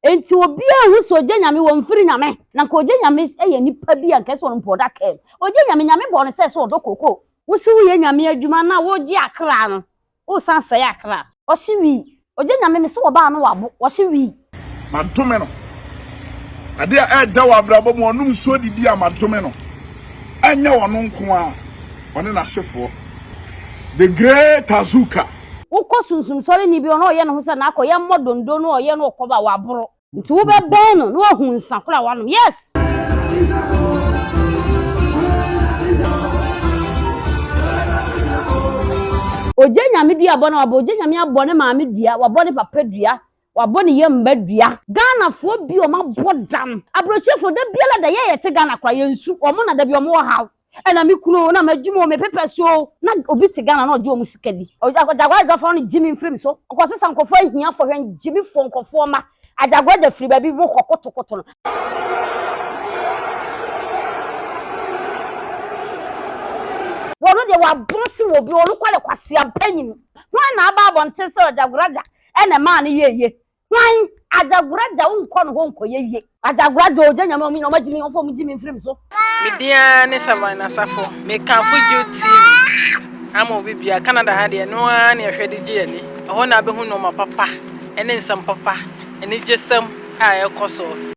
Enti obiaa nhu sɛ ogya nyame wɔ mfiri nyame na nka ogya nyame yɛ nipa bi a nka ɛsɛ ɔnpo ɔda kaa mu ogya nyame nyame bɔɔ no sɛ sɛ ɔdɔ kookoo. Wose woyɛ nyame adwuma na wogye akra no wosan sɛe akra ɔhye wii ogya nyame mese wɔbaa no wabo ɔhye wii. Madome no ade a ɛda wɔ abrabɔ mu ɔnom nsuo didi a madome no ɛnyɛ ɔno nko ara ɔne n'ahyefoɔ the great Azuka. Wokɔ sunsum sɔreni bi hɔ na ɔyɛ ne ho sɛ n'akɔyɛ mmɔ dondo na ɔyɛ no ɔkɔba a, waboro. Nti wobɛbɛn no na wahu nsa koro a wanom. Yes! Ogye Nyame dua bɔ na wabɔ. Ogye Nyame abɔ ne maame dua, wabɔ ne papa dua, wabɔ ne yam mma dua. Ghanafoɔ bi wɔn abɔ dam. Abrɔkyefo da biara da yɛ yɛte Ghana koraa yɛnsu wɔn na da bi wɔn wɔ haw. Ɛna me kunu o, na m'adwuma o, me pepɛ so o, na obi te Ghana na ɔgye wɔn sika di. Agyagwa agya fa no gye me mfiri me so. Ɔkɔ sesa nkurɔfoɔ ahiafoɔ, hwɛ ngye me foɔ nkurɔfoɔ ma. Agyagwa agya firi baabi mo kɔ kotokoto no. Wɔno deɛ wɔaboro se wɔ bi, wɔno kɔ de kwaseampa nim. Hwan na aba abɔnten sɛ Agyagwa agya ɛna ɛmaa no yɛɛyɛ. Hwan? Ajagora gya wo nkɔ no hɔ nkɔyɛ yie. Ajagora gya ogya nyame ɔmo nyina ɔmo agye me ɔmfa ɔmo gye me mfiri me so. Me din ara ne Savan Asafo. Me kamfo Jude TV ama obi biara. Canada ha deɛ ɛno ara ne ɛhwɛ de gye yɛn ani. Ɛhɔ na wobɛhu nnoɔma papa ne nsɛm papa, anigyesɛm a ɛrekɔ soɔ.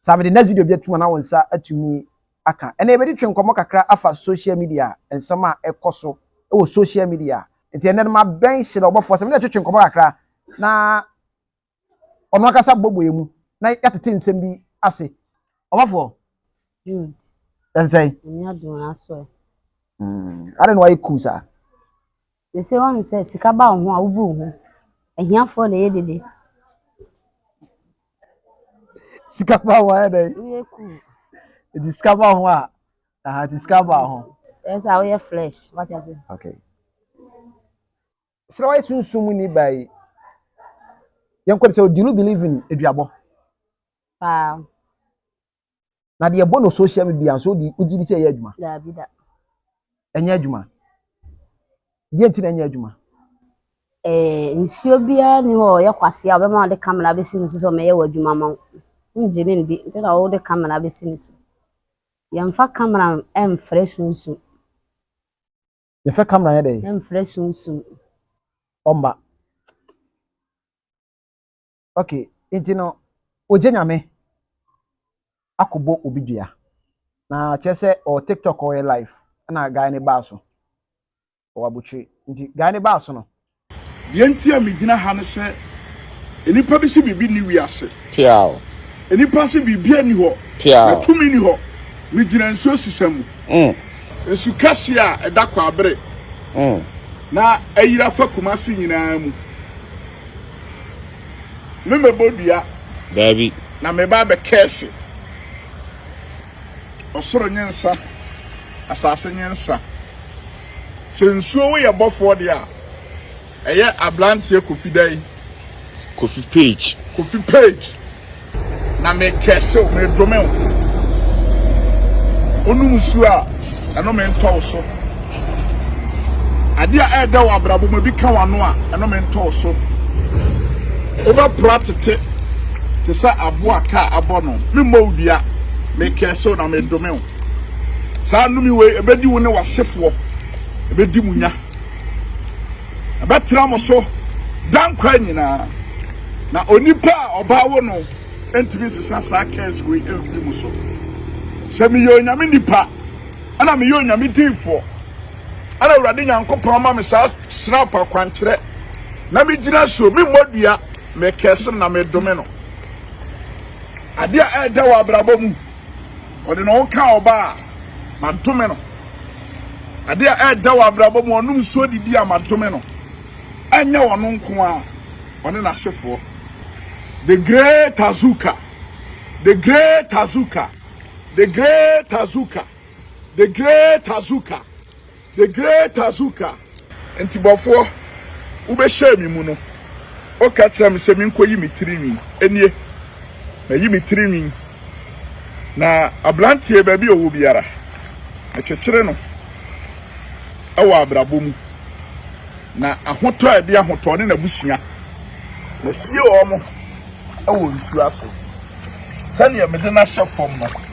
Sa mede next video bi atum ana wo nsa atumi aka ɛnɛ yɛbɛdi twe nkɔmmɔ kakra afa social media nsɛm a ɛkɔso wɔ social media nti ɛnɛ no mabɛn hyerɛ ɔbɔfoɔ sɛ mene ɛtwetwe nkɔmmɔ kakra na ɔno akasa bɔbɔ yɛ mu na yɛatete nsɛm bi ase ɔbɔfoɔ ɛnsɛn ade na wayɛ cool saa They say wɔn sɛ sika ba wo ho a wobu wo ho. Ahiafoɔ na ɛyɛ dede. Sika ba ho ayɛ dɛn? Woyɛ cool. Nti sika ba ho a, aha nti sika ba ho. Ɛyɛ sɛ a woyɛ flesh, wate ase. Okay. Srawa sunsum ni ba yi. Yɛn kɔ de sɛ, do you believe in aduabɔ? Paa. Na deɛ ɛbɔ no social media nso wode wogye di sɛ ɛyɛ adwuma? Daabi da. Ɛnyɛ adwuma. Deɛ nti na ɛnyɛ adwuma? Eh, nsuo biara ni hɔ ɔyɛ kwase a ɔbɛma ɔde kamera bɛsi ne so sɛ ɔmɛyɛ wɔ adwuma ma wo. Wongye ne ndi nti na wode kamera bɛsi ne so. Yɛmfa kamera mfrɛ sunsum. Yɛfɛ kamera yɛ dɛ? Mfrɛ sunsum. Ɔmba. Okay, nti no ogye nyame akɔbɔ obi dua na kyerɛ sɛ ɔwɔ tiktok ɔyɛ live ɛna guy ne baa so ɔwɔ abotire nti guy ne baa so no. Deɛ nti a megyina ha ne sɛ nnipa bi se biribi nni wiase. Piaw. Nnipa se biribiara nni hɔ. Piaw. Na tumi nni hɔ. Megyina nsuo sesa mu. Mm. Nsu kɛseɛ a ɛda Kwaabere. Mm. Na ayira fa Kumasi nyinaa mu. Me mɛbɔ dua. Daabi. Na meba abɛ kɛɛse. Ɔsoro nye nsa, asase nye nsa. Sɛ nsuo wo yɛ bɔfoɔ deɛ a, ɛyɛ abranteɛ Kofi dɛn? Kofi Page. Kofi Page. Na me curse wo, me dome wo. Wonom nsuo a, ɛno me ntɔ wo so. Adeɛ a ɛɛdɛ wɔ abrabɔ mu, ebi ka w'ano a, ɛno me ntɔ wo so. Wobɛpra tete te sɛ aboa a kaa abɔ no. Memmɔ wo dua, me curse wo na me dome wo. Saa nnome wei, ɛbɛdi wo ne w'asefoɔ, ɛbɛdi mo nya. Ɛbɛtra mo so daa nkwa nyinaa, na onipa a ɔbaa wo no ntumi nsesa saa kɛɛs wei mfiri mo so. Sɛ meyɛ onyame nipa, ɛna meyɛ onyame diifoɔ, ɛna Awurade Nyankopɔn ma me saa snap akwankyerɛ, na megyina so, memmɔ dua, mekɛɛse no na medome no. Adeɛ a ɛɛda wɔ abrabɔ mu. Ɔde ne ho kaa ɔbaa a, madome no. Ade a ɛreda wɔ abrabɔ mu, ɔnom nsuo de di a, madome no. Ɛnyɛ ɔno nko ara, ɔne n'asefoɔ. The Great Azuka, The Great Azuka, The Great Azuka, The Great Azuka. The Great Azuka. Ntibɔfoɔ, wobɛhyɛɛ me mu no, woka kyerɛɛ me sɛ menkɔyi me tirinwi. Ɛnie, mayi me tirinwi, na aberanteɛ baabi a ɔwɔ biara, mekyekyere no wɔ abrabɔ mu, na ahotɔ a ɛde ahotɔ ne n'abusua, masie wɔn wɔ nsuo ase, sɛdeɛ mede no ahyɛ fam no.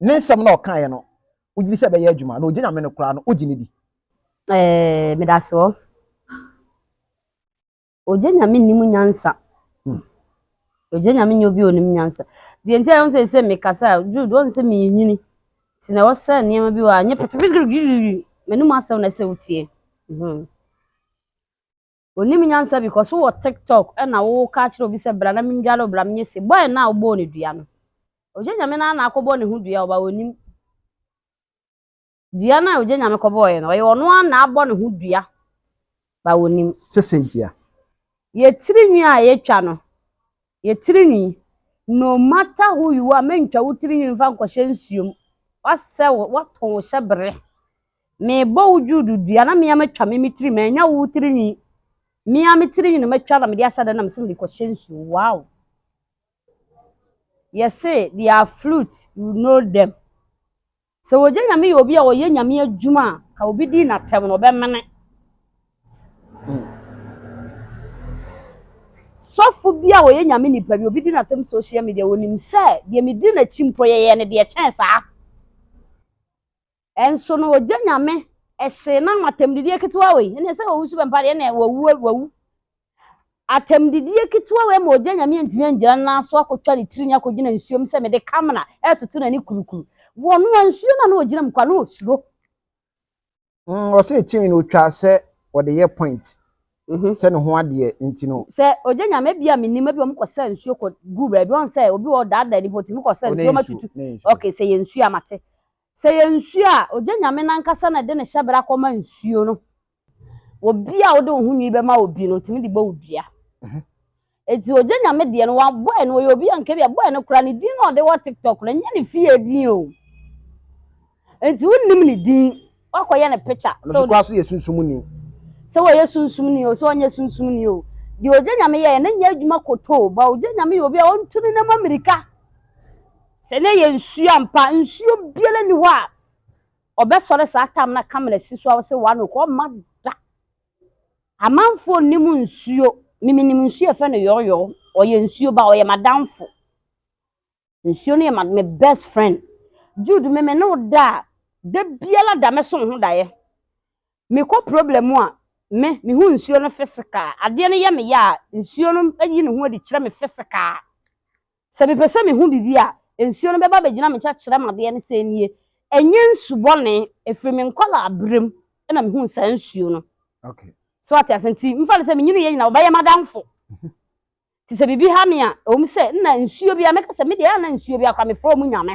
Ne nsɛm no a ɔkaeɛ no, wogye di sɛ ɛbɛyɛ adwuma? Na ɔgye Nyame no koraa no, wogye no di? Eeii medase o. Ogye nyame nni mu nyansa. Hmm. Ogye nyame nyɛ obi a onim nyansa. Deɛ nti a ɛho sɛ sɛ mekasa a Jude wɔn sɛ menyini. Nti na ɛwɔ sɛ nneɛma bi wɔ a nyɛ pɛtɛpɛtɛpɛtɛpɛtɛ m'anum asɛm na ɛsɛ wotie. Mhm. onim nyansa bi kɔ so wɔ tiktok na wo ka kyerɛ obi sɛ bra na mendware wo bra menyɛ se boy no a wobɔɔ ne dua no ogye nyame no na akɔbɔ ne ho dua ɔba onim dua no a ogye nyame kɔbɔɔyɛ no ɔyɛ ɔno a na abɔ ne ho dua ba onim sɛ sɛ ntia yɛtiri nwi a yɛtwa no yɛ tirinwi no matter who you are mentwa wo tirinwi mfa nkɔhyɛ nsuo mu wasɛ wo watɔn wo hyɛ bere mebɔ wo juudu dua na mea matwa me me tiri manya wo tirinwi mea me tirinwi na matwa na mede ahyɛ dɛ na mesɛ mede kɔhyɛ nsuo wow yɛse they are flute you know them Sɛ wɔgye Nyame yɛ obi a ɔyɛ Nyame adwuma a, ka obi din natɛm no ɔbɛmene. Sɔfo bi a ɔyɛ Nyame nipa bi, obi di natɛm social media, ɔnim sɛ deɛ medi nakyi mpo yɛyɛ no deɛ ɛkyɛn saa. Nso no ɔgye Nyame hye na ho atɛmdidie ketewa wei, ɛneɛ sɛ ɔwusu bɛmpa deɛ ɛneɛ wawu wawu. Atɛmdidie ketewa wei ma ogya nyame antumi angyina ne nan so akɔtwa ne tirinwi akɔgyina nsuo mu sɛ mede kamena retoto n'ani kurukuru. Wɔnoa nsuo no a na ɔgyina mu koraa na ɔsuro. Mm, ɔsɛ tirinwi no ɔtwa sɛ ɔde yɛ point sɛ ne ho adeɛ nti no. Sɛ ogya nyame ebi a mennim, ebi a wɔkɔsa nsuo kɔgu baabi, ɔhu sɛ obi wɔ hɔ ɔdaadaa nipa ɔtumi kɔsa nsuo ma tutu. Okay, sɛ ɛyɛ nsuo a mate. Sɛ ɛyɛ nsuo a, ogya Nyame no ankasa na ɛde ne hyɛbra kɔma nsuo no. Obi a wode wo ho nwi bɛma obi no, ɔtumi de bɔ wo dua. Enti ogya Nyame deɛ no, wabɔ ɛno, ɔyɛ obi a nka bi a bɔ ɛno koraa, ne din na ɔde wɔ TikTok no, ɛnyɛ ne fie din o. Enti wonnim ne din, woakɔyɛ no picture. Ɛno so koraa so yɛ sunsumni. Sɛ ɔyɛ sunsumni o, sɛ ɔnyɛ sunsumni o, deɛ ogya Nyame yɛeɛ no nyɛ adwuma kotoo, but ogya Nyame yɛ obi a ɔntu ne nneɛma mmirika. Sɛ na ɛyɛ nsuo ampa a, nsuo biara nni hɔ a ɔbɛsɔre saa tam no aka mena si so a ɔse wano kɔ, ɔmma da. Amanfoɔ nnim nsuo, me menim nsuo a yɛfrɛ no yɔɔyɔɔ, ɔyɛ nsuo ba, ɔyɛ m'adamfo. Nsuo no yɛ ma me best friend. Jude me mene wo da a, da biara da mɛsɔ wo ho daeɛ. Mekɔ problem mu a, me mehu nsuo no physical, adeɛ no yɛ me ya a, nsuo no yi ne ho adi kyerɛ me physical. Sɛ mepɛ sɛ mehu biribi a, nsuo no bɛba abɛgyina me nkyɛn akyerɛ me adeɛ ne sɛ nie. Ɛnyɛ nsu bɔne, ɛfiri me nkwadaa berɛ mu na mehuu saa nsuo no. So ate aseɛ? Nti mfa no sɛ menyiniiɛ nyinaa wɔbɛyɛ m'adamfo. Nti sɛ biribi ha me a, ɛwom sɛ nna nsuo biara, mɛka sɛ me deɛ anna nsuo biara koraa mefrɛ wɔn nyame.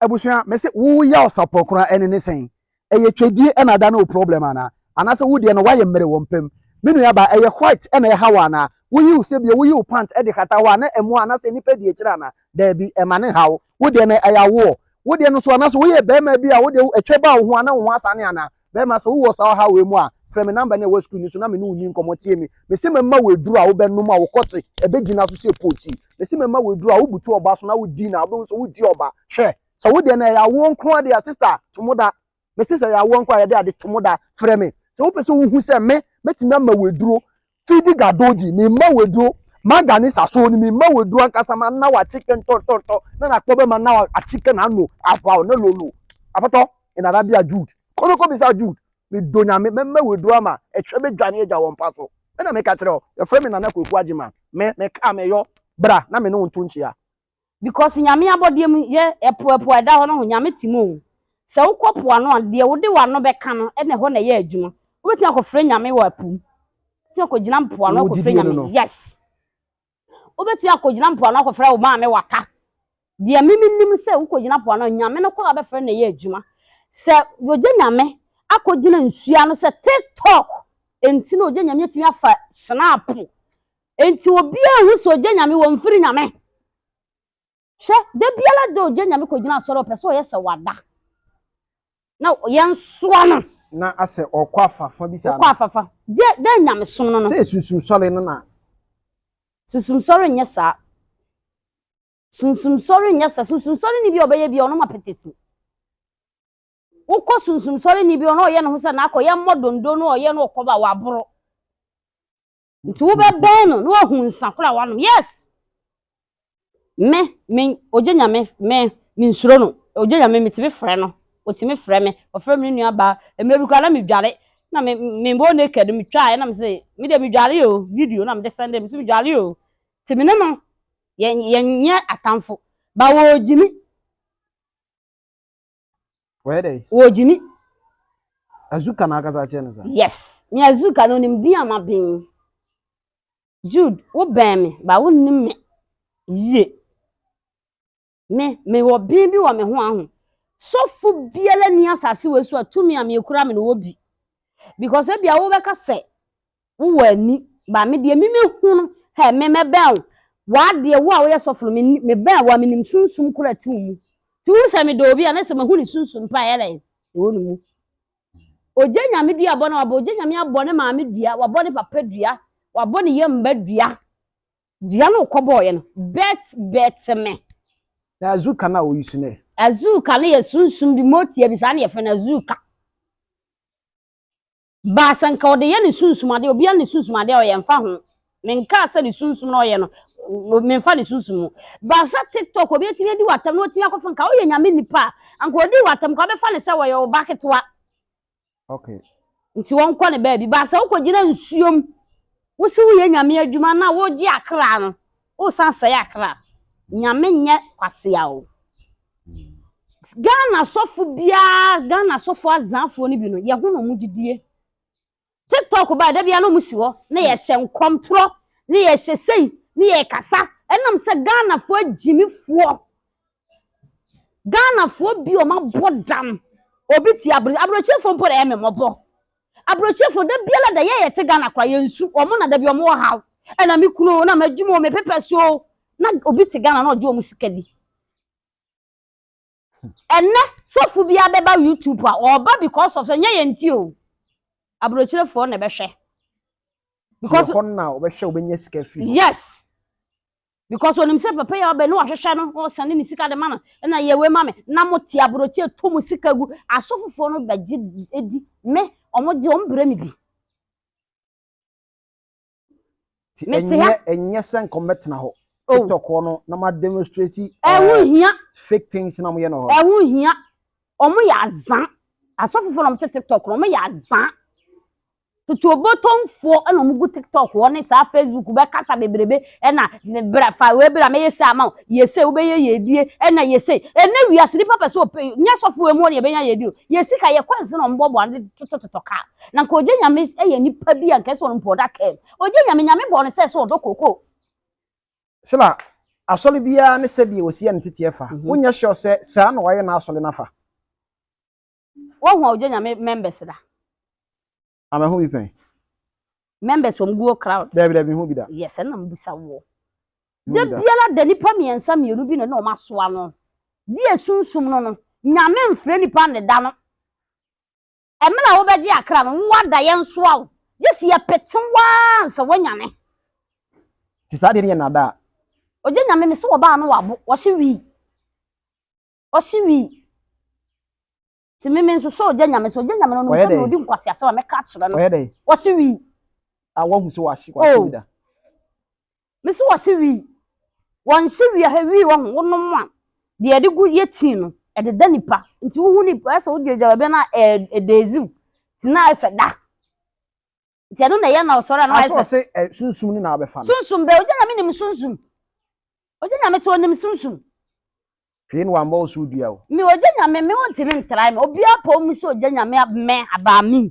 Abusua me se wo ya ɔsapɔ koraa ɛne ne sɛn? Ɛyɛ twɛdie ɛna ada ne wo problem anaa? Anaasɛ wo deɛ no wayɛ mmere wɔ mpam? Me nua baa ɛyɛ white ɛna ɛha wo anaa? Wo yi wo se bio wo yi wo pant ɛde kata hɔ a na ɛmoa anaasɛ nnipa di akyire anaa? Daabi ɛma ne ha wo. Wo deɛ no ɛyɛ awoɔ. Wo deɛ no nso anaasɛ wo yɛ barima bi a wo deɛ ɛtwa baa wo ho a na wo ho asane anaa? Bɛrima, sɛ wowɔ saa ɔhaw wei mu a, frɛ me namba no a ɛwɔ screen no so na me ne wo nni nkɔmmɔ. Tie me. Mese mɛma wo aduru a wobɛnom a wo kɔte bɛgyina so sɛ pookyi. Mese mɛma wo aduru a wobutu ɔba so na wodi na wobɛhu sɛ wogye ɔba. Hwɛ, sɛ wo deɛ no ɛyɛ awoɔ nko ara deɛ a, sista, to mo da. Mese sɛ ɛyɛ awoɔ nko ara a, yɛde ade to mo da. Frɛ me. Sɛ wopɛ sɛ wohu sɛ me, mɛtumi ama wo aduro Fidi Gadoji, me mma weduo, Maga ne Sasoo no, me mma weduo ankasa, ma nna w'akyeke ntɔntɔntɔ, na n'akpɔ bɛma nna w'akyeke n'ano ahwaw ne lolo. Apɔtɔ, in Arabia, Jude. Kɔ na kɔbisa Jude. Medɔ Nyame, mɛma weduo ama ɛhwɛ bɛdwane agya wɔ mpa so. Me na meka kyerɛ wo, yɛfrɛ me Nana Kwaku Agyeman. Me, mekaa meyɔ. Bra na me ne wo nto nkyea. because Nyame abɔdeɛ mu yɛ ɛpo ɛpo a ɛda hɔ no ho Nyame te mu o sɛ wo kɔ po ano a deɛ wo de w'ano bɛka no ɛna ɛhɔ na ɛyɛ adwuma wo bɛtumi akɔ frɛ Nyame wɔ ɛpo mu wobɛtumi akɔ gyina mpo ano akɔ frɛ Nyame yes wo bɛtumi akɔ gyina mpo ano akɔ frɛ wo maame waka deɛ me me nim sɛ wo kɔ gyina po ano Nyame no kɔ a bɛfrɛ na ɛyɛ adwuma sɛ yɔgya Nyame akɔ gyina nsuo ano sɛ tiktok ɛnti na ɔgya Nyame atumi afa hyena po Enti obiara a ohu sɛ ogye Nyame wɔ mfiri Nyame. Hwɛ, da biara da ogye Nyame kɔgyina asɔre a ɔpɛ sɛ ɔyɛ sɛ wada na yɛnsoa no. Na asɛ ɔkɔ afafa bi saa no. Wokɔ afafa. Gye dɛ Nyamesom no no. Sɛ sunsum sɔre no na. Sunsum sɔre nyɛ saa. Sunsum sɔre nyɛ saa. Sunsum sɔre ni bi a ɔbɛyɛ bi a ɔnom apɛtɛsi. Wokɔ sunsum sɔre ni bi hɔ na ɔyɛ ne ho sɛ n'akɔ yɛ mmɔ dondo na ɔyɛ na ɔkɔ ba waboro. Nti wobɛbɛn no na wahu nsa koro a wanom. Yes! Me, me, ogye nyame, me, me nsuro no. Ogye nyame, metumi frɛ no. Otumi frɛ me. Ɔfrɛ me ne nua baa. Mmerɛ bi koraa na medware. Na me, me bɔ naked no, metwaaɛ na mese, me deɛ medware o, video na mede sɛnde, mese medware o. Nti me ne no, yɛ, yɛnyɛ atamfo. But ɔgye me. Wɔyɛ dɛ? Wɔgye ni. Azuka na akasa akyerɛ no saa? Yes. Me Azuka no onim din a maben. Jude, wobɛn me but wonnim me yie. Me, mewɔ ben bi wɔ me ho aho. Sɔfo biara nni asase wei so a tumi a mekura me no wɔ bi. Because ebia wobɛka sɛ wo wɔ ani ba me deɛ me me hu no hɛ me mɛ bɛn wo waa deɛ wo a wo yɛ sɔfo no me me bɛn wo a me nim sunsum koro ɛte wo mu ti wo sɛ me dɔ obi a na sɛ mahu ne sunsum pa yɛ dɛn ɛwɔ ne mu ogya nyame dua abɔ na wabɔ ogya nyame abɔ ne maame dua wabɔ ne papa dua wabɔ ne yɛ mba dua dua no kɔ bɔɔ yɛ no bɛt bɛt me na azuka na oyi su ne azuka no yɛ sunsum bi motia bi saa ne yɛ fɛ no azuka Baa sɛ nka ɔde yɛ ne sunsum adeɛ, obiara ne sunsum adeɛ a ɔyɛ nfa ho, menkaa sɛ ne sunsum na ɔyɛ no, menfa ne sunsum ho. Baa sɛ tiktok obi atumi adi w'atam na watumi akɔfa nka woyɛ nyame nipa a, anka ɔdii w'atam nka ɔbɛfa no sɛ wɔyɛ wo ba ketewa. Okay. Nti wɔnkɔ ne baabi. Baa sɛ wokɔgyina nsuom, wose woyɛ nyame adwuma na wogye akra no, Wo san sɛe akra. Nyame nyɛ kwasea o. Ghana sɔfo biaa Ghana sɔfo azaafoɔ no bi no yɛ ho na ɔmo gyidie. Tiktok baɛ dabiaa na ɔmo si hɔ na yɛ hyɛ nkɔmtorɔ na yɛ hyɛ sei na yɛ kasa ɛnam sɛ Ghanafoɔ agyimifoɔ Ghanafoɔ bi a wɔabɔ dam, obi te aburo aburokyefoɔ mpo na ɛyɛ me mmɔbɔ. Aburokyefoɔ da biara da yɛ a yɛte Ghana koraa yɛnsu, wɔn na da bi wɔwɔ haw. Ɛna me kunu o, na m'adwuma o, me pepɛ so o, na obi te Ghana na ɔgye wɔn sika di. Ɛnɛ sɔfo bi abɛba YouTube a ɔba because of sɛ nyɛ yɛn ti o, aburokyefoɔ na ɛbɛhwɛ. Ti hɔ na wɔbɛhwɛ wɔbɛnya sika firi hɔ. Yes. because onim sɛ papa yi a ɔbɛ ne wahwehwɛ no ɔsane ne sika de ma no ɛna yɛ wei ma me na mo te aburokyi to mo sika gu asɔfofoɔ no bɛgye edi me wɔn gye wɔn brɛ me bi. ti Mete ɛnyɛ ha. ɛnyɛ sɛ nkɔm bɛtena hɔ Oh. tiktok hɔ no na ma demonstrate ɛho eh, hia fake things na moyɛ no hɔ ɛho hia wɔn yɛ azan asɔfofoɔ na wɔn te tiktok no wɔn yɛ azan Tutuobotomfoɔ na wɔn gu tiktok hɔ ne saa facebook bɛkasa bebrebe ɛna bra fa wei bra mɛyɛ sei ama wo yɛ sei wobɛyɛ yɛ adie ɛna yɛ sei ɛnɛ wiase nipa pɛ sɛ ɔpɛ nyɛ sɔfo emu ɔne ɛbɛnya yɛ adie o yɛ sika yɛ kwan sɛ na wɔn bɔbɔ ano totototɔ kaa na nka ogye nyame ɛyɛ nipa bi a nka ɛsɛ wɔn mpɔ ɔda kaa mu ogye nyame nyame bɔ no sɛ sɛ ɔdɔ koko. Sila, asɔre biara ne sɛdeɛ wɔsi yɛ no teteɛ fa. Wonyɛ sure sɛ saa na wɔayɛ n'asɔre no afa. Woahu a ogya nyame members da? Ah mahu bi pɛn. Members wɔn guo crowd. Dabi dabi mehu bi da. Yes ɛna mebisa woɔ. Da biara da nipa mmiɛnsa mmienu bi na na wɔn asoa no. Di esunsum no no. Nyame mfrɛ nipa ne da no. Ɛmɛ na wobɛgye akra no wo ada yɛn soa wo. Gyesi yɛpete waa nsa wanyane. Nti saa deɛ no yɛ nada a. Ogya nyame mese wɔba ano wabo wɔhye wii. Ɔsi wi. Ti mi mi nsoso ogya nyame so ogya nyame no no sɛ na odi nkwasi asɛm a mɛka akyerɛ no. Ɔyɛ dɛ. Ɔsi wi. A wɔn ho sɛ wɔasi wɔasi oh. wi da. Mi si wɔsi wi. Wɔn si wi ahɛ wi wɔn ho wɔn nom a deɛ ɛde gu yɛ tii no ɛde da nipa nti wohu nipa ɛsɛ wogyinagyina baabi na ɛɛ ɛdɛɛziw ti na ɛfɛ da. Nti ɛno na ɛyɛ na ɔsɔre a na wayɛ sɛ. Asɔ ɔse ɛ sunsum no na abɛfa no. Sunsum bɛ ogya nyame nim sunsum. Ogya nyame to onim sunsum. Hwee na wammɔ wo so dua o. Me ogya nyame me ontimi ntrae me obia pɔw mu sɛ ogya nyame abmɛ abaa me mu.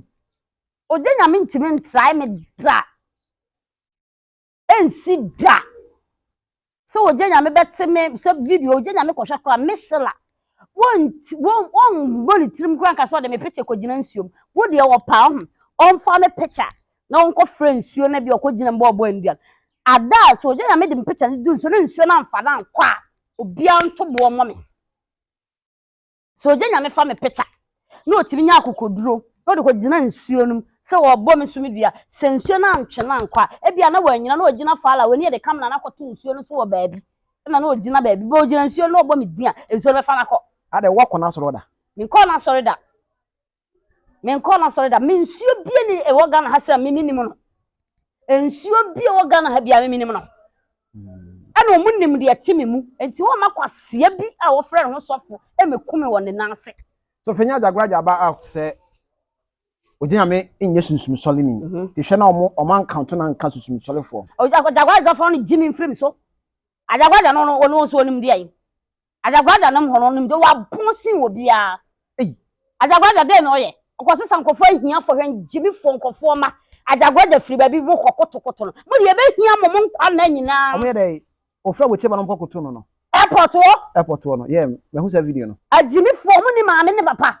Ogya nyame ntimi ntrae me da. Ɛnsi da sɛ ogya nyame bɛte me sɛ video ogya nyame kɔhwɛ koraa me sela wɔmmɔ ne tirim koraa nka sɛ ɔde me picture kɔgyina nsuom wo deɛ ɔpa ɔho ɔmfa me picture na ɔnkɔ frɛ nsuo na bi ɔkɔgyina mu ɔbɔ nnuan ada a sɛ ogya nyame de me picture no du nsuo na nsuo no amfa no ankɔ a obiara nto boɔ mmɔ me sɛ ogya nyame fa me picture na otumi nya akokoduro na ɔde kɔ gyina nsuo no mu sɛ ɔrebɔ me so me dua sɛ nsuo no antwe no ankɔ a ebia na wanyina na ogyina faala w'ani yɛde kamena na akɔto nsuo no so wɔ baabi na na ogyina baabi bɛ ogyina nsuo no na ɔbɔ me din a nsuo no bɛfa no akɔ. Adɛ woakɔ n'asɔre da? Menkɔɔ n'asɔre da. menkɔɔ n'asɔre da me nsuo bie ne ɛwɔ Ghana ha sɛ mimi nim no nsuo bie ɛwɔ Ghana ha bia mimi nim no ɛna ɔmo nim deɛ ɛte me mu nti wɔn ma kwaseɛ bi a wɔfrɛ ne ho sɔfo ɛmɛku me wɔ ne nan ase. so fenya agyagoragya aba out sɛ ɔgye nyame nyɛ sunsumsɔle ni mhm. te hwɛ na ɔmo ɔmo ankanto na nka sunsumsɔlefoɔ agyagoragyafoɔ no gye me mfiri me so agyagoragya no ɔno nso ɔnim deɛ Adzaguada no mhɔn ɔnom dɛ ɔapon sen obiara. Adzaguada dɛn na ɔyɛ? Ɔkɔsesa nkorɔfo ehiafo hɛn gyimifo nkorɔfo mma. Adzaguada fir beebi rokɔ kotokoto no, mo de yebehia mo mo nkwa nna nyina. Ɔmo yɛ dɛn? Ofura wo kyeba no mpɔ koto no no. Airport hɔ. Airport hɔ no, yeah, mehu saa video no. Agyimifo, ɔmo nni maame ne papa.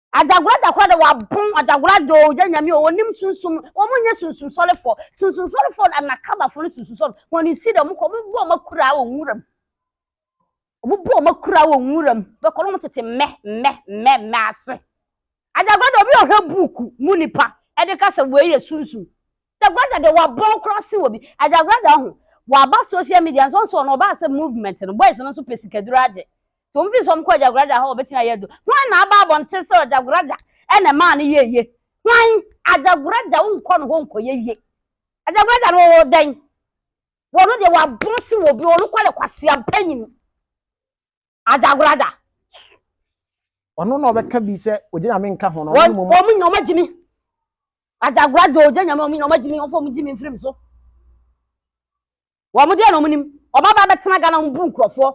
Adagora dakora de wɔabon adagora de ɔgya nyame o wɔnim sunsum wɔn nyɛ sunsunsɔrefo sunsunsɔrefo anakabafo no sunsunsɔrefo wɔn ne si de wɔn kɔ wɔn bu wɔn akura wɔ nwuram wɔn bu wɔn akura wɔ nwuram bɛkɔ no wɔn tete mmɛ mmɛ mmɛ mmɛ ase adagora de obi ɔhwɛ buuku mu nipa ɛde ka sɛ wei yɛ sunsum Agyagwagya deɛ wabɔn koraa se wɔ bi Agyagwagya ho waba social media nso nso ɔno ɔbaa sɛ movement no boys no nso pɛ sikaduro agye nti wɔn fii sɛ wɔn kɔ Agyagwagya hɔ a wɔbɛtumi ayɛ aduro hwan na aba abɔnten sɛ Agyagwagya ɛna ɛmaa no yɛɛ yie hwan Agyagwagya wo nkɔ no hɔ nkɔ yɛ yie Agyagwagya no ɔwɔ dɛn wɔn deɛ wabɔn se wɔ bi wɔn kɔ ne kwasea panyin. Adjagorada. Ɔno na ɔbɛka bi sɛ ogye nyame nka ho no ɔno ne moma. Wɔn nyina wɔn agye me. Adjagorada ogye nyame wɔn nyina wɔn agye me wɔn fɔ wɔn gye me mfiri me so. Wɔn deɛ na wɔn nim. Wɔn aba abɛtena Ghana wɔn bu nkurɔfoɔ.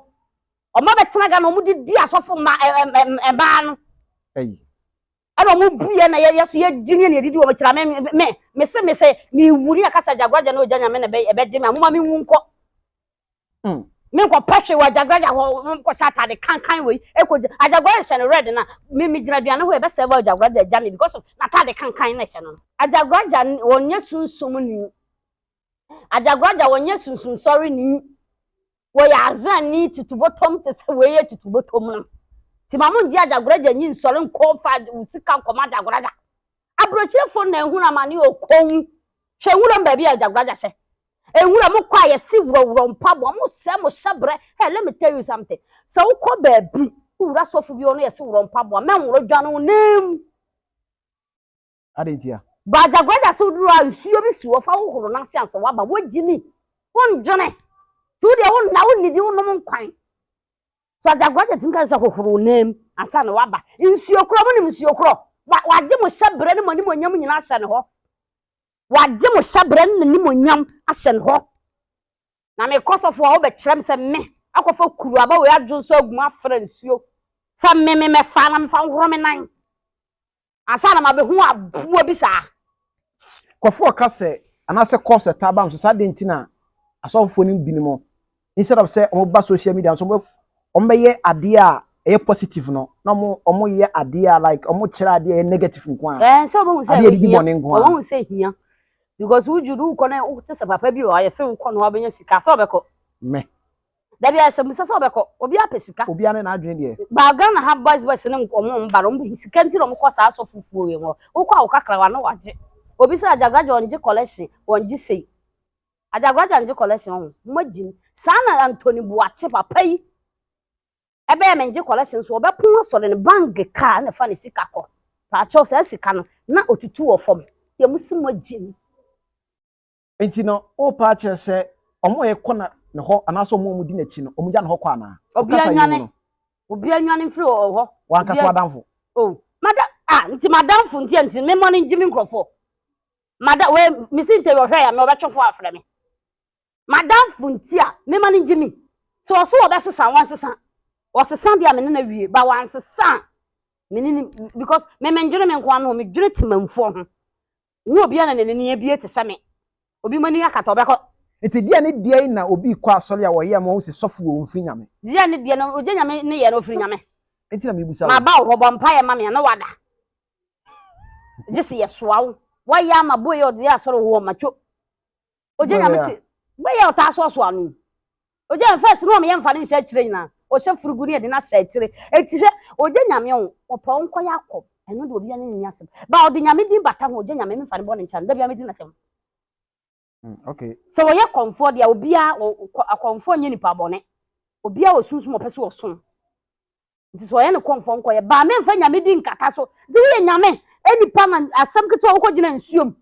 Wɔn abɛtena Ghana wɔn de di asɔfo mma ɛɛ ɛɛ mmaa no. Ɛyi. ɛna ɔmo bu yɛ na yɛ so yɛ gye ne na edidi wɔ mo kyerɛ me me me se me sɛ me wu ne akasa gyagraja na ogya nyame na ɛbɛ ɛbɛ gye me amoma me wu nkɔ hmm. me nkɔ pɛhwe wɔ gyagraja hɔ nkɔ hyɛ atade kankan wɔ yi ekɔ gyagraja hyɛ no red na me me gyina duane hɔ ɛbɛ sɛ ɛbɛ gyagraja gya me because of na atade kankan na hyɛ no gyagraja wɔnyɛ sunsum ni Adzagoradza wɔnnyɛ sunsunsɔrnyi, wɔyɛ Azanyi tutubotom tse sɛ wei yɛ tutubotom no. Ntsi ma monngye adzagoradza nyi nnsɔr nnkɔ mfa wo sika nkɔma adzagoradza. Aborɔkyirfo na ehun amane wɔ kɔnmu, hwɛ nwuram beebi a adzagoradza hyɛ. Nwuram kɔ a yɛse worɔworɔ mpaboa, mosɛɛ mo hyɛbrɛ, hey let me tell you something, sɛ wokɔ beebi, wowura sɔfo bi hɔ na yɛse worɔ mpaboa, mɛnworo dwan wo nanmu. Adɛn ntia? Bagyagua da so duru a nsuo bi si hɔ fa hohoro no ase ansa waba wogye mi wondwene nti wo deɛ wonna wonnidi wonom nkwan so agyagua da tumi ka sɛ hohoro wo nam ansa na waba nsuo korɔ mo nim nsuo korɔ wagye mo hyɛ berɛ ne mo anim onyam nyinaa ahyɛ ne hɔ wagye mo hyɛ berɛ ne n'anim onyam ahyɛ ne hɔ na mekɔ sɔfo a wobɛkyerɛ me sɛ me akɔfa kuru aba wei adwo nso agu mu afra nsuo sɛ me me mɛfa na mefa nhoro me nan Ansa na mabehu aboa bi saa. Nkurɔfoɔ ka sɛ, anaasɛ kɔ sɛ taa bam sɛ saa dɛn nti na asɔfofoɔ no binom instead of sɛ wɔn ba social media nso wɔn wɔn bɛyɛ adeɛ a ɛyɛ positive no na wɔn wɔn yɛ adeɛ a like wɔn kyerɛ adeɛ a ɛyɛ negative nko ara. Ɛɛ sɛ wɔn hu sɛ ɛbɛ hia wɔn hu sɛ hia because woju do wokɔ na wote sɛ papa bi wɔ ayɛ sɛ wokɔ na wabɛnya sika sɛ ɔbɛkɔ. Mɛ. Dabi ayɛsɛmbusa sɛ ɔbɛkɔ obiaa pɛ sika. Obiaa ne n'adwene deɛ. But Ghana ha boys boys no nko ɔmo mba no ɔmo pɛ sika nti na ɔmo kɔ saa asɔfo fuo yi hɔ wokɔ a wo kakrawa no wagye obi sɛ agyagoragya ɔngye collection ɔngye sei agyagoragya ngye collection ɔho moagyim saa na Anthony Boakye papa yi ɛbɛyɛ mengye collection so ɔbɛ pon asɔre no bang kaa ɛna fa ne sika kɔ paakyɛw saa sika no na ɔtutu wɔ fam yɛ mo se moagyim. Nti no worepa akyerɛ sɛ ɔmo a ɛkɔ na ne hɔ anaasɛ ɔmo a ɔmo di n'akyi no ɔmo gya ne hɔ kɔ anaa? Obia Ɔkasa yi mu nwane, no. obia nwane mfiri ɔ hɔ. Wanka so Obia, adamfo. oh, mada, ah, nti m'adamfo nti a nti me mmɔ no ngye me nkurɔfoɔ. Mada, wei, me si ntɛ ɔhwɛ ya me ɔbɛtwe fo afrɛ me. M'adamfo nti a me ma no ngye me. Sɛ ɔso ɔbɛsesa a wansesa. Ɔsesa deɛ a me ne no awie but wansesa a me ne no, because me mendwene me nkoa no ho, medwene temanfoɔ ho. Nni obiara na n'ani abue te sɛ me. Obi mu ani akata a, ɔbɛkɔ. Enti deɛ ne deɛ yi na obi kɔ asɔre a wɔyɛ ma ɔhu sɛ sɔfo wɔ ɔmfiri Nyame. Deɛ ne deɛ no, ogye Nyame nneyɛɛ no ɔfiri Nyame. Enti na merebisa wo. Maba wo hɔ, bɔ mpaeɛ ma me a na wada. Gyese yɛsoa wo. Wayɛ ama boe ɔde yɛ asɔre wɔ hɔ, matwo. ogye nyame te bɛyɛ a ɔtaa soasoa no ogye yɛn fɛs no ɔmeyɛ mfa ne nhyɛ akyire nyinaa ɔhyɛ furugu ne yɛde no ahyɛ akyire eti hwɛ ogye nyame ho ɔpɛ ɔnkɔ yɛ akɔ ɛno de obi anya ne asɛm ba ɔde nyame din bata ho ogye nyame memfa ne bɔ ne nkyɛn dabi amedi n'asɛm mm, okay. sɛ wɔyɛ kɔnfoɔ deɛ obiara akɔnfoɔ nyɛ nipa bɔne obiara wɔ sunsum ɔpɛ sɛ ɔsom nti sɛ ɔyɛ ne kɔmfɔ nkɔ yɛ baa mɛmfa nyame di nkata so nti woyɛ nyame nipa na asɛm ketewa wokɔ gyina nsuo mu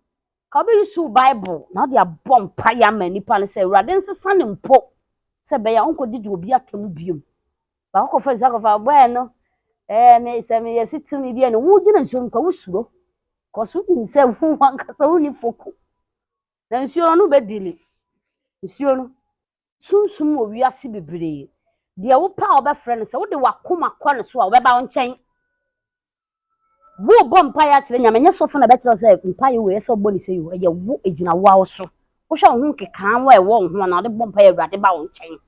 ka wobɛyi so bible na wode abɔ mpa yɛ ama nipa no sɛ awurade nsesa ne mpo sɛ bɛyɛ a ɔnkɔ didi obi atɔ mu biom baako kɔfa nsuo akɔfa bɔɛ no ɛɛ me sɛ meyɛ si tumi bi ɛne wo gyina nsuo mu ka wosuro kɔso nim sɛ wo wankasa wo ni foko na nsuo no bɛdili nsuo no sunsum wɔ wiase bebree. Deɛ wopɛ a wobɛfrɛ no, sɛ wode w'akoma kɔ ne so a, ɔbɛba wo nkyɛn. Worebɔ mpaeɛ akyerɛ Nyame, ɛnyɛ sɔfo na bɛkyerɛ wo sɛ mpaeɛ wei ɛsɛ wobɔ ne sei o, ɛyɛ wo, ɛgyina wo ara wo so. Wohwɛ wo ho nkekaawa a ɛwɔ wo ho a, na wode bɔ mpaeɛ a, Awurade ba wo nkyɛn.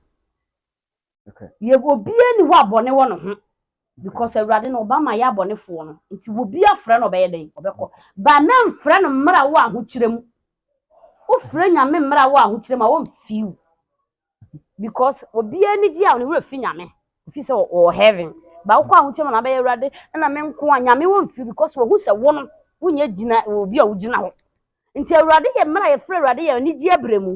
Yɛ obiara nni hɔ a bɔne wɔ ne ho. Because Awurade no ɔba ma yɛ abɔnefoɔ no nti wobi afrɛ no ɔbɛyɛ dɛn ɔbɛkɔ but na nfrɛ no mmra wo ahokyerɛ mu wofrɛ nyame mmra wo ahokyerɛ mu a wɔn feel because obi ani gye a ne werɛ fi nyame fi sɛ ɔwɔ heaven ba wokɔ ahokyerɛ mu na abɛyɛ Awurade na me nko a nyame wɔn feel because wɔhu sɛ wo no wonyɛ gyina obi a wogyina hɔ Ntsi Ewuradze yɛ mber a yɛfrɛ Ewuradze yɛ anigye aberɛ mu,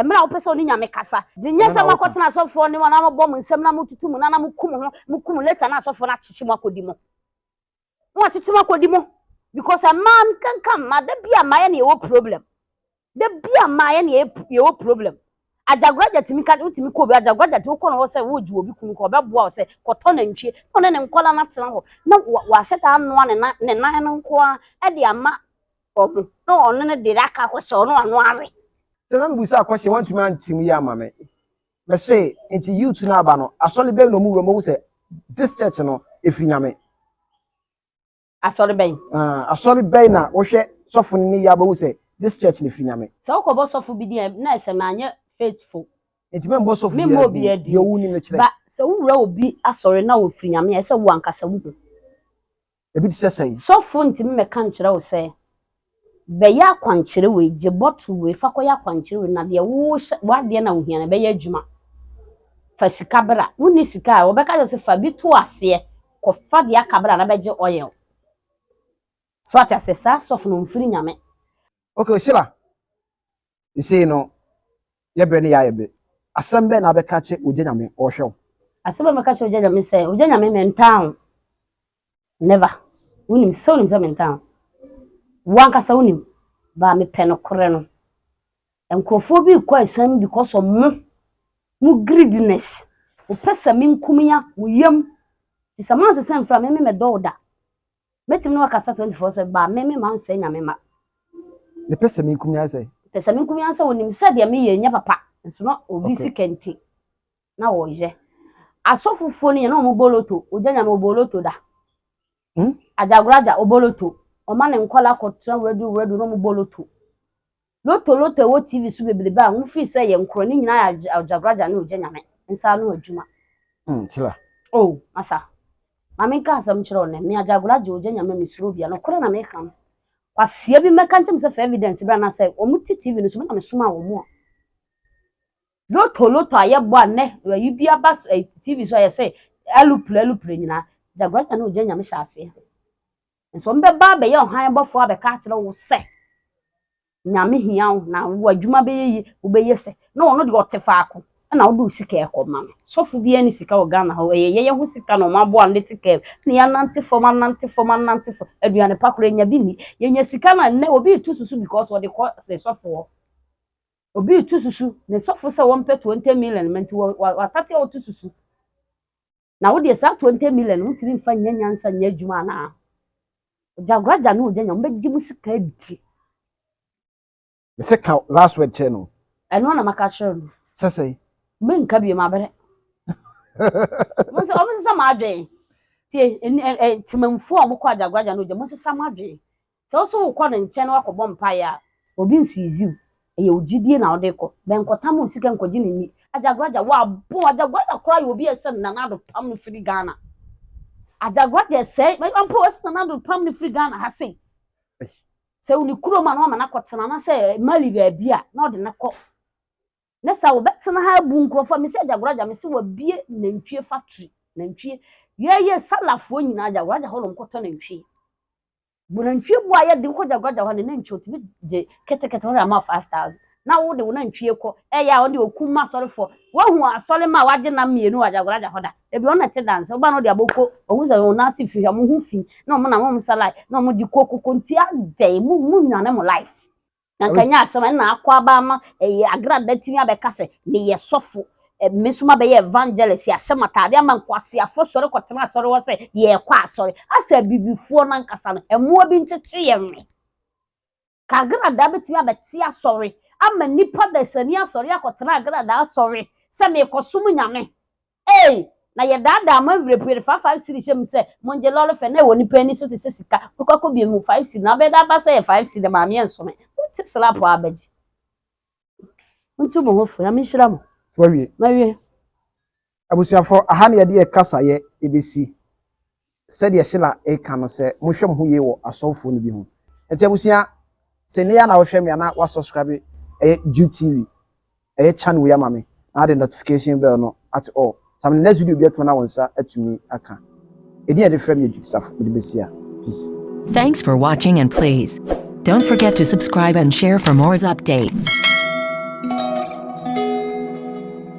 mber a wopɛ sɛ wo ne Nyame kasa. Dze nnyɛ sɛ mɔkɔtsena asɔfo hɔ ne hɔn na mobɔ mo nsam na mototo mu no ana moko mo ho, moko mo later na asɔfo no akyekye mo akɔdi mo. Wɔakyekye mo akɔdi mo because amaa mekɛnkã mma, da bi a mmaa yɛ na yɛwɔ problem. Da bi a mmaa yɛ na yɛwɔ problem. Agyagoragya tumi ka, wotumi kɔ obi, agyagoragya tumi kɔ no hɔ sɛ woregye obi kunu kɔ, ɔbɛboa wo sɛ kɔtɔ nantwie na ɔne ne nkwadaa no atena hɔ na wahyɛ da anoa ne nan no nko ara de ama wɔ ho na ɔno no de aka hɔ sɛ ɔno ano awe. Ntsi na mibisaa question, wɔanntumi anntse mu yie amma me. Mese, Ntsi youth no aba no, asɔre bɛn na wɔwura mu? Wɔhu sɛ this church no, efiri Nyame. Asɔre bɛn? Aah, asɔre bɛn na wohwɛ sɔfo no ne yɛ a wobɛhu sɛ this church no, efiri Nyame? Sɛ wokɔbɔ sɔfo bi din a, na ɛsɛ manyɛ faithful. Ntsi memmɔ sɔfo biara din. Memmɔ obiara din. Deɛ wonim no kyerɛ. Ba, sɛ wowura obi asɔre na ɔfiri Nyame a, ɛsɛ wo ankasa wohu. Ebi te sɛ sɛn? Sɔfo ntumi mmɛka nkyerɛ wo sɛ, Bɛyɛ akwankyerɛ wei, gye bɔtol wei fa kɔyɛ akwankyerɛ wei, na deɛ wohyɛ, w'adeɛ na wohia no, ɛbɛyɛ adwuma. Fa sika bra. Wonni sika a, wɔbɛka kyerɛ wo sɛ, Fa bi to aseɛ, kɔfa deɛ aka bra na bɛgye oil. So ate aseɛ? Saa sɔfo no, ɔmfiri Nyame. Okay, Sheila, Isei no yɛ berɛ ne yɛ ayɛ be. Asɛm bɛn na wobɛka akye Ogya Nyame? Ɔɔhwɛ wo. Asɛm a mɛka akyerɛ Ogya Nyame sɛ, Ogya Nyame, mentaa wo. Never. Wonim, sɛ wonim sɛ mentaa wo. Wo ankasa wonim. But mepɛ nokorɛ no. Nkorɔfoɔ bi rekɔ asiane mu because of mo, mo greediness. Mopɛ sɛ menkum ya mo yam. Nti sɛ moansesa amfiri a, me, me mɛdɔ wo da. Mɛtumi ne wakasa 24 sɛ, ba, me me ma nsɛ nyame ma. Mepɛ sɛ meku me ansɛ. Mepɛ sɛ meku me ansɛ, onim sɛ deɛ meyɛ nyɛ papa, nso na obi si kɛnti na wɔyɛ. Asɔfofoɔ no yɛ na wɔn boloto, ogya nyame oboloto da. Hmm? Ajagoraja oboloto, ɔma ne nkɔla kɔtena wuradu wuradu na wɔn boloto. Lotto Lotto a ɛwɔ TV so bebrebe a wofii sɛ ɛyɛ nkorɔ no nyinaa yɛ Aljagraja ne Ogya Nyame nsa ano adwuma. Mm, Kyla. Oh, masa. Ma menka asɛm nkyerɛ wo nnɛ. Me Aljagraja, Ogya Nyame, mesuro obiara. Nokorɛ na meka no. Kwasea bi mmɛka nkyerɛ me sɛ fa evidence bra na sɛ wɔte TV no so, me na mesomaa wɔn a. Lotto Lotto a yɛbɔ a nnɛ ayi bi aba TV so a yɛsɛ alupre alupre nyinaa, Aljagraja ne Ogya Nyame hyɛ aseɛ. Nanso wɔbɛba abɛyɛ ɔhan bɔfoɔ abɛka akyerɛ wo sɛ Nyame hia wo na w'adwuma bɛyɛ yie, wobɛyɛ sɛ na ɔno deɛ ɔte faako na wode wo sika rekɔma no. Sɔfo biara nni sika wɔ Ghana ha o, ɛyɛ yɛyɛ ho sika na wɔaboa no de te kaa mu na yɛanante fam, anante fam, anante fam, aduane pa koraa yɛnya bi nni. Yɛnya sika no a nnɛ obi reto susu because ɔde kɔ ne sɔfo hɔ. Obi reto susu ne sɔfo sɛ wɔmpɛ 20 million ma nti wastate ɔreto susu. Na wo deɛ saa twenty million no wontumi nfa nyɛ nyansa nyɛ adwuma anaa? Ɔgyagoragya ne ɔgyanya wɔn bɛgye mu sika adidi. Me se ka last word kyerɛ no. Ɛno na maka kyerɛ no. Sɛ sɛn? Menka bio mabrɛ. Mo sɛ wɔn sesa mo adwene. Tie ɛni ɛ ɛ temamufoɔ a wɔkɔ agyagoragya ne ɔgya mo sesa mo adwene. Sɛ wo nso wokɔ no nkyɛn na woakɔbɔ mpaeɛ a, obi nsiiziw. Ɛyɛ wo gyidie na wode kɔ. Bɛnkɔtam wo sika nkɔgye no nni. Agyagoragya, w'abon. Agyagoragya koraa yɛ obi a ɛsɛ Nana Addo pam no firi Ghana. Agyagoragya ɛsɛe m'adwuma mpo. Ɛsɛ Nana Addo pam no firi Ghana ha sei. Sɛ ɔni kurom a na wama no akɔtena anaasɛ Mali baabi a na ɔde no akɔ. Ne saa wɔbɛtena ha abu nkurɔfoɔ a. Mese Agyagoragya, mese wabue nantwie factory, nantwie. Yɛɛyɛ Salafoɔ nyinaa Agyagoragya hɔ na wɔkɔtɔ nantwie. Wo nantwie bu ayɛ den kɔ gyaguagya hɔ ne nantwie otumi gye ketekete hɔ ama five thousand na wo de wo nantwie kɔ ɛyɛ a ɔde okum ma asɔrefoɔ wahu asɔre ma wagye nam mmienu wɔ gyaguagya hɔ da ebi ɔno na ɛte danse ɔba na ɔde aboko ɔhu sɛ wɔn nan ase fi hwɛ wɔn ho fi na wɔn nam wɔn salai na wɔn gye koko kontia dɛn mu mu nwane mo life Na nka ɛnyɛ asɛm ɛna akɔ aba ama ɛyɛ agrada atumi abɛka sɛ meyɛ sɔfo me nso mabɛyɛ evangelist yɛahyɛ mo ataade ama nkwaseafoɔ sɔre kɔtena asɔre hɔ sɛ yɛrekɔ asɔre asɛ abibifoɔ no ankasa no mmoa bi nkyekye yɛn we ka agradaa bɛtumi abɛte asɔre ama nnipa dasani asɔre akɔtena agradaa asɔre sɛ merekɔsom nyame Ei! Na yɛdaadaa mo awerɛpue no faafa nsirihyɛ mu sɛ mongye lɔre fɛ na ɛwɔ nipa ani so te sɛ sika kurukuako bienu mu five cedi na abɛda aba sɛ ɛyɛ five cedi Maame ɛnso me monte slap a abɛgye Montu mo ho fo Nyame nhyira mo Wawie. Mawie. Abusuafo, aha na yɛde yɛn kasayɛ besi. sɛdeɛ Sheila reka no sɛ mohwɛ moho yie wɔ asɔfoɔ no bi ho nti abusua sɛ nnɛ yi ara na wohwɛ me a na wa subscribe ɛyɛ Jude TV ɛyɛ channel yi ama me na wode notification bell no ato all sɛ me next video bi ato na wo nsa atumi aka ɛdin a yɛde frɛ me yɛ Jude Safo mede bɛsi a peace. Thanks for watching and please don't forget to subscribe and share for mores updates.